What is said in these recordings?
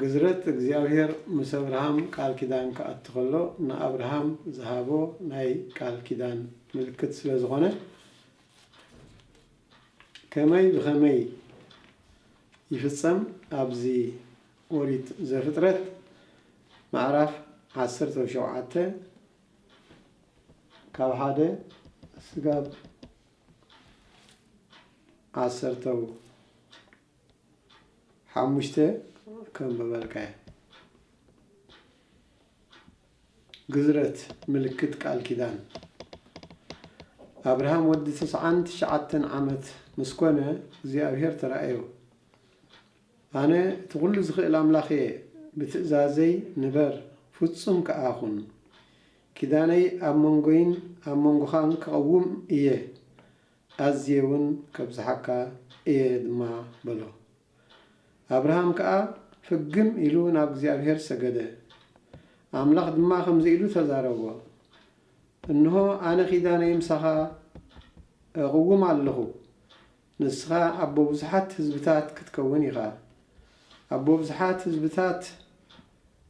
ግዝረት እግዚኣብሄር ምስ ኣብርሃም ቃል ኪዳን ክኣቱ ከሎ ንኣብርሃም ዝሃቦ ናይ ቃል ኪዳን ምልክት ስለ ዝኾነ ከመይ ብኸመይ ይፍጸም ኣብዚ ኦሪት ዘፍጥረት ምዕራፍ ዓሰርተ ሸውዓተ ካብ ሓደ ስጋብ ዓሰርተው ሓሙሽተ ከም በበልካዮ ግዝረት ምልክት ቃል ኪዳን ኣብርሃም ወዲ ትስዓን ትሽዓተን ዓመት ምስ ኮነ እግዚኣብሄር ተራእዮ ኣነ እቲ ኩሉ ዝኽእል ኣምላኽ እየ ብትእዛዘይ ንበር ፍጹም ከኣ ኩን ኪዳነይ ኣብ መንጎይን ኣብ መንጎኻን ክቐውም እየ ኣዝየውን ከብዝሓካ እየ ድማ በሎ። ኣብርሃም ከኣ ፍግም ኢሉ ናብ እግዚኣብሄር ሰገደ። ኣምላኽ ድማ ከምዚ ኢሉ ተዛረቦ፣ እንሆ፣ ኣነ ኪዳነይ ምሳኻ እቕውም ኣለኹ፣ ንስኻ ኣቦ ብዙሓት ህዝብታት ክትከውን ኢኻ። ኣቦ ብዙሓት ህዝብታት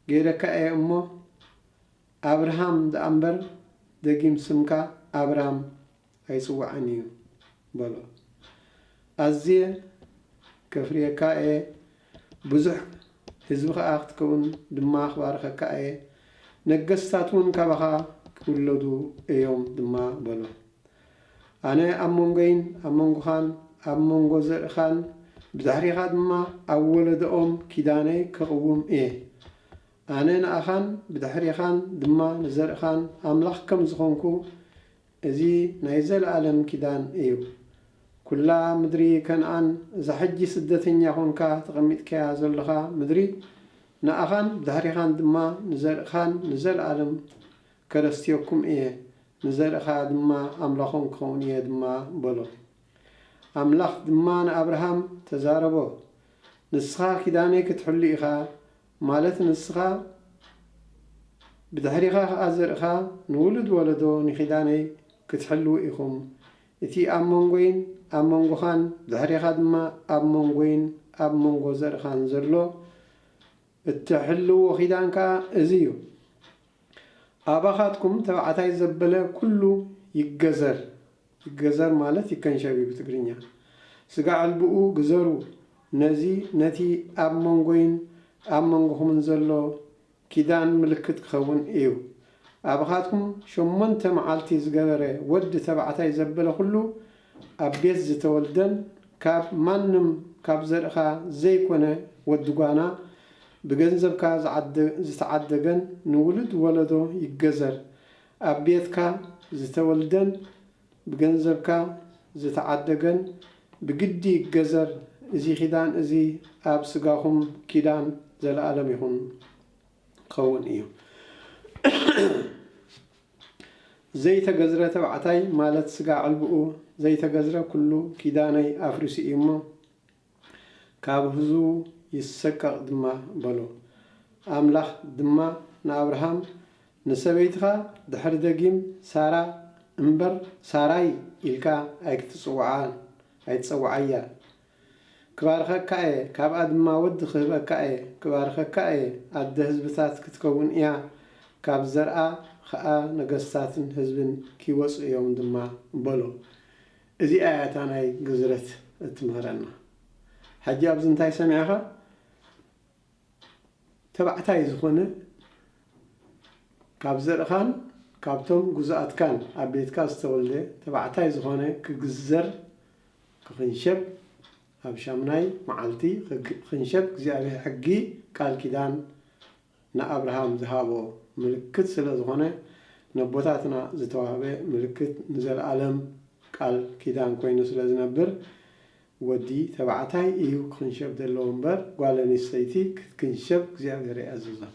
ገይረካ እየ እሞ፣ ኣብርሃም ደኣ እምበር፣ ደጊም ስምካ ኣብራም ኣይጽውዓን እዩ በሎ። ኣዝየ ከፍርየካ እየ፣ ብዙሕ ህዝቢ ኸኣ ክትከውን ድማ ክባርኸካ እየ፣ ነገስታት እውን ካባኻ ክውለዱ እዮም ድማ በሎ። ኣነ ኣብ መንጎይን ኣብ መንጎኻን ኣብ መንጎ ዘርእኻን ብድሕሬኻ ድማ ኣብ ወለዶኦም ኪዳነይ ከቕውም እየ። ኣነ ንኣኻን ብድሕሬኻን ድማ ንዘርእኻን ኣምላኽ ከም ዝዀንኩ እዚ ናይ ዘለኣለም ኪዳን እዩ። ኩላ ምድሪ ከንኣን እዛ ሕጂ ስደተኛ ኮንካ ተቀሚጥካያ ዘሎኻ ምድሪ ንኣኻን ብድሕሪኻን ድማ ንዘርእካን ንዘለኣለም ከረስትየኩም እየ ንዘርእኻ ድማ ኣምላኾም ክኸውን እየ ድማ በሎ። ኣምላኽ ድማ ንኣብርሃም ተዛረቦ ንስኻ ኪዳነይ ክትሕሉ ኢኻ ማለት ንስኻ ብድሕሪኻ ኸኣ ዘርእኻ ንውሉድ ወለዶ ንኪዳነይ ክትሕልዉ ኢኹም እቲ ኣብ መንጎይን ኣብ መንጎኻን ድሕሬኻ ድማ ኣብ መንጎይን ኣብ መንጎ ዘርእኻን ዘሎ እትሕልዎ ኪዳን ከኣ እዚ እዩ ኣባኻትኩም ተባዕታይ ዘበለ ኩሉ ይገዘር ይገዘር ማለት ይከንሸብ እዩ ብትግርኛ። ስጋ ዕልብኡ ግዘሩ ነዚ ነቲ ኣብ መንጎይን ኣብ መንጎኹምን ዘሎ ኪዳን ምልክት ክኸውን እዩ። ኣብኻትኩም ሸሞንተ መዓልቲ ዝገበረ ወዲ ተባዕታይ ዘበለ ኩሉ ኣብ ቤት ዝተወልደን ካብ ማንም ካብ ዘርእኻ ዘይኮነ ወዲ ጓና ብገንዘብካ ዝተዓደገን ንውሉድ ወለዶ ይገዘር ኣብ ቤትካ ዝተወልደን ብገንዘብካ ዝተዓደገን ብግዲ ይገዘር፣ እዚ ኪዳን እዚ ኣብ ስጋኹም ኪዳን ዘለኣለም ይኹን ክኸውን እዩ። ዘይተገዝረ ተባዕታይ ማለት ስጋ ዕልብኡ ዘይተገዝረ ኩሉ ኪዳነይ ኣፍሪሱ እዩ እሞ፣ ካብ ህዝቡ ይሰቀቕ ድማ በሎ። ኣምላኽ ድማ ንኣብርሃም፣ ንሰበይትኻ ድሕሪ ደጊም ሳራ እምበር ሳራይ ኢልካ ኣይክትጽውዓ፣ ኣይትጸውዓያ። ክባርኸካ እየ፣ ካብኣ ድማ ወዲ ክህበካ እየ፣ ክባርኸካ እየ፣ ኣደ ህዝብታት ክትከውን እያ፣ ካብ ዘርኣ ኸኣ ነገስታትን ህዝብን ኪወጹ እዮም ድማ በሎ። እዚኣ እያ እታ ናይ ግዝረት እትምህረና ሕጂ ኣብዚ እንታይ ሰሚዕኻ ተባዕታይ ዝኾነ ካብ ዘርእኻን ካብቶም ግዙኣትካን ኣብ ቤትካ ዝተወልደ ተባዕታይ ዝኾነ ክግዘር ክኽንሸብ ኣብ ሻምናይ መዓልቲ ክኽንሸብ እግዚኣብሔር ሕጊ ቃል ኪዳን ንኣብርሃም ዝሃቦ ምልክት ስለ ዝኾነ ነቦታትና ዝተዋህበ ምልክት ንዘልኣለም ቃል ኪዳን ኮይኑ ስለ ዝነብር ወዲ ተባዕታይ እዩ ክኽንሸብ ዘለዎ እምበር ጓል ኣንስተይቲ ክትክንሸብ እግዚኣብሔር ኣይኣዘዞን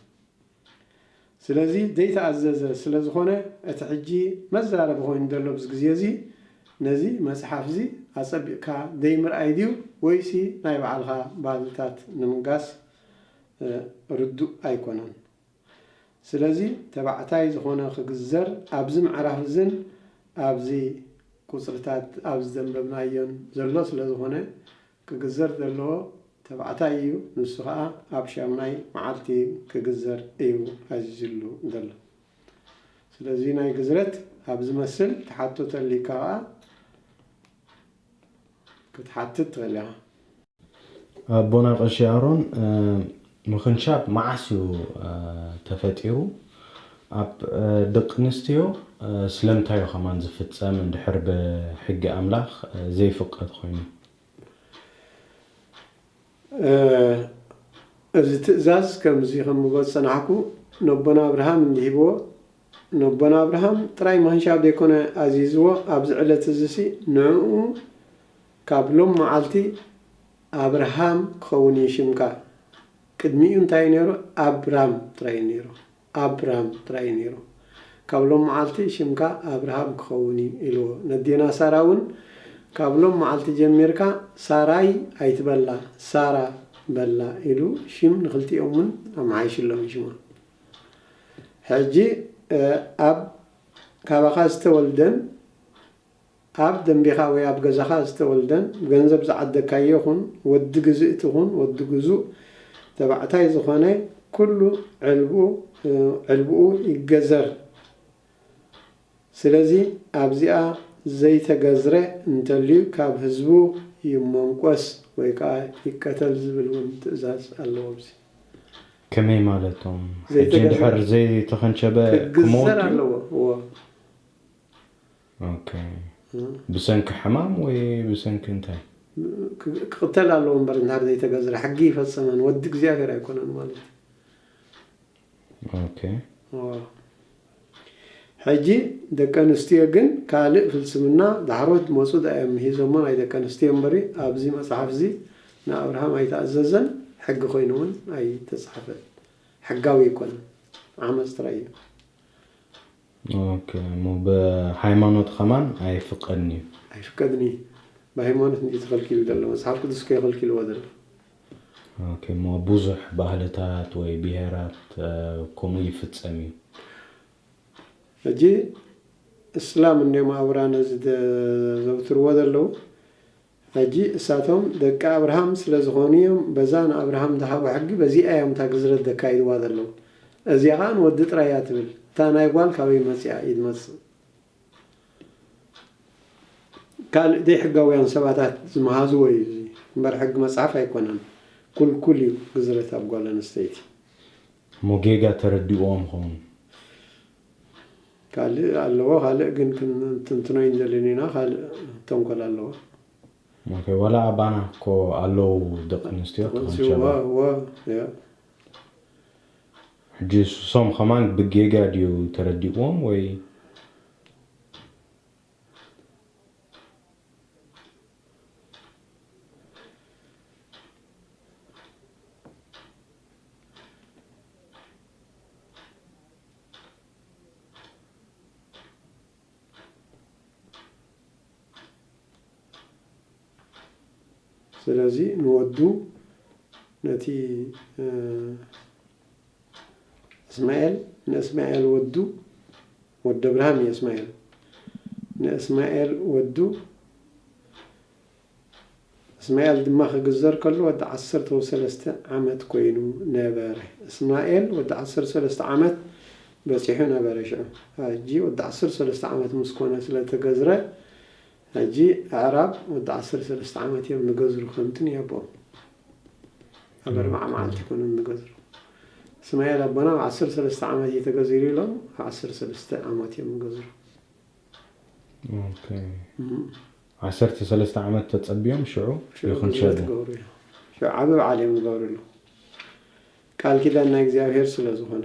ስለዚ ዘይተኣዘዘ ስለ ዝኾነ እቲ ሕጂ መዛረቢ ኮይኑ ዘሎ ኣብዚ ግዜ እዚ ነዚ መጽሓፍ እዚ ኣጸቢቕካ ዘይምርኣይ ድዩ ወይሲ ናይ ባዕልኻ ባህልታት ንምንጋስ ርዱእ ኣይኮነን። ስለዚ ተባዕታይ ዝኾነ ክግዘር ኣብዚ ምዕራፍ እዝን ኣብዚ ቁጽርታት ኣብዚ ዘንበብናዮን ዘሎ ስለዝኾነ ክግዘር ዘለዎ ተባዕታይ እዩ ንሱ ከኣ ኣብ ሻምናይ መዓልቲ ክግዘር እዩ ኣዚዙሉ ዘሎ። ስለዚ ናይ ግዝረት ኣብ ዝመስል ትሓቶ ተልዩካ ከኣ፣ ክትሓትት ትኽእል ኢኻ። ኣቦና ቀሺ ኣሮን ምኽንሻብ መዓስ እዩ ተፈጢሩ ኣብ ደቅንስትዮ ስለምንታይ እዩ ከማን ዝፍጸም እንድሕር ብሕጊ ኣምላኽ ዘይፍቀድ ኮይኑ። እዚ ትእዛዝ ከምዚ ኸምብሎ ዝጸናሕኩ ነቦና ኣብርሃም እንዲ ሂብዎ ነቦና ኣብርሃም ጥራይ ማንሻ ደይኮነ ኣዚዝዎ ኣብዚ ዕለት እዚሲ ንእኡ ካብ ሎም መዓልቲ ኣብርሃም ክኸውን እዩ ሽምካ ቅድሚኡ እንታይ እዩ ነይሩ ኣብራም ጥራይ እዩ ነይሩ ኣብራም ጥራይ እዩ ነይሩ። ካብ ሎም መዓልቲ ሽምካ ኣብርሃም ክኸውን እዩ ኢልዎ። ነዴና ሳራ እውን ካብ ሎም መዓልቲ ጀሚርካ ሳራይ ኣይትበላ ሳራ በላ ኢሉ ሽም ንክልቲኦም እውን ኣመሓይሽሎም ሽሞም። ሕጂ ኣብ ካባኻ ዝተወልደን ኣብ ደምቢኻ ወይ ኣብ ገዛኻ ዝተወልደን ብገንዘብ ዝዓደግካዮ ኹን ወዲ ግዝእቲ ኹን ወዲ ግዙእ ተባዕታይ ዝኾነ ኩሉ ዕልቡ ዕልብኡ ይገዘር ስለዚ ኣብዚኣ ዘይተገዝረ እንተልዩ ካብ ህዝቡ ይሞንቆስ ወይ ከኣ ይቀተል ዝብል ውን ትእዛዝ ኣሎ ኣብዚ ከመይ ማለቶም ሕጂ ዘይተገዝረ እንድሕር ዘይተከንቸበ ክግዘር ክመውት ድዩ? ኣለዎ እዎ። ብሰንኪ ሕማም ወይ ብሰንኪ እንታይ? ክቕተል ኣለዎ እምበር እንድሕር ዘይተገዝረ ሕጊ ይፈጸመን ወዲ እግዚኣብሔር ኣይኮነን ማለት ሕጂ ደቂ ኣንስትዮ ግን ካልእ ፍልስምና ዳሕሮት ዝመጹ ዳእዮም ምሂዞሞ ናይ ደቂ ኣንስትዮ እምበሪ ኣብዚ መጽሓፍ እዚ ንኣብርሃም ኣይተኣዘዘን ሕጊ ኮይኑ እውን ኣይተጻሕፈን ሕጋዊ ኣይኮነን ዓመጽ ጥራይ እዩ ኦከ እሞ ብሃይማኖት ከማን ኣይፍቀድን እዩ። ኣይፍቀድን እዪ ብሃይማኖት እንድዪ ተኸልኪሉ ደሎ መጽሓፍ ቅዱስ ከይ ኸልኪልዎ ደሎ። ኦከ እሞ ቡዙሕ ባህልታት ወይ ብሄራት ከምኡ ይፍጸም እዩ። ሕጂ እስላም እንድዮም ኣብራን እዚ ዘዘውትርዎ ደለዉ ሕጂ እሳቶም ደቂ ኣብርሃም ስለ ዝኾኑ እዮም በዛ ንኣብርሃም ዝሃቦ ሕጊ በዚኣ እዮም እታ ግዝረት ዘካይድዋ ዘለዉ እዚኣ ከኣ ንወዲ ጥራይ እያ ትብል እታ ናይ ጓል ካበይ መጺኣ እዩ ዝመጽእ ካልእ ዘይሕጋውያን ሰባታት ዝመሃዝዎ እዩ እዚ እምበር ሕጊ መጽሓፍ ኣይኮነን ኩልኩል እዩ ግዝረት ኣብ ጓል ኣንስተይቲ እሞ ጌጋ ተረዲእዎም ይኸውን። ካልእ ኣለዎ ካልእ ግን ክንትንትኖ ኣይንደልን ኢና ካልእ ተንኮል ኣለዎ። ኦኬ ዋላ ኣባና እኮ ኣለው ደቂ ኣንስትዮ ተኾንሸባ ሕጂ ሶም ከማን ብጌጋ ድዩ ተረዲእዎም ወይ ስለዚ ንወዱ ነቲ እስማኤል ንእስማኤል ወዱ ወደ ብርሃን እዩ እስማኤል ንእስማኤል ወዱ እስማኤል ድማ ኺግዘር ከሎ ወዲ ዓሰርተው ሰለስተ ዓመት ኰይኑ ነበረ። እስማኤል ወዲ ዓሰርተው ሰለስተ ዓመት በጺሑ ነበረ ሽዑ። ሕጂ ወዲ ዓሰርተው ሰለስተ ዓመት ምስ ኰነ ስለ እተገዝረ፣ ሕጂ ኣዕራብ ወዲ ዓሰርተው ሰለስተ ዓመት እዮም ዚገዝሩ፣ ከምቲ ንየቦኦም ኣብ ኣርብዓ መዓልቲ ይኰኑ ዚገዝሩ። እስማኤል ኣቦና ኣብ ዓሰርተው ሰለስተ ዓመት እዩ ተገዚሩ ኢሎም ኣብ ዓሰርተው ሰለስተ ዓመት እዮም ዚገዝሩ። ኦኬ። ዓሰርተ ሰለስተ ዓመት ተጸብዮም ሽዑ ይኹንሸቡ። ሽዑ ዓቢ በዓል እዮም ዝገብርሉ ቃል ኪዳን ናይ እግዚኣብሔር ስለ ዝኾነ።